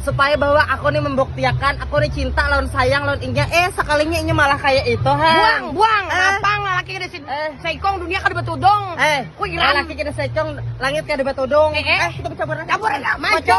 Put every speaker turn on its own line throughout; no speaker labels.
supaya bahwa aku nih membuktiakan aku nih cinta lawan sayang lawan inya eh sekalinya inya malah kayak itu buang han buang Eh. napang lalaki kada si Eh. seikong dunia kada batudung eh Wih, geram. laki kita secong langit kada batudung Eh, eh. kita bercampur Campur aja, maco. maco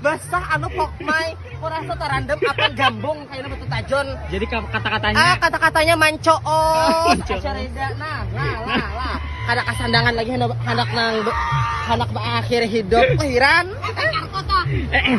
basah anu pokmai kurasa tarandam apan gambung kaina betul tajon jadi kata-katanya ah kata-katanya manco oh reda nah lah lah lah kada kasandangan lagi hendak hendak nang hendak berakhir hidup hiran eh, eh.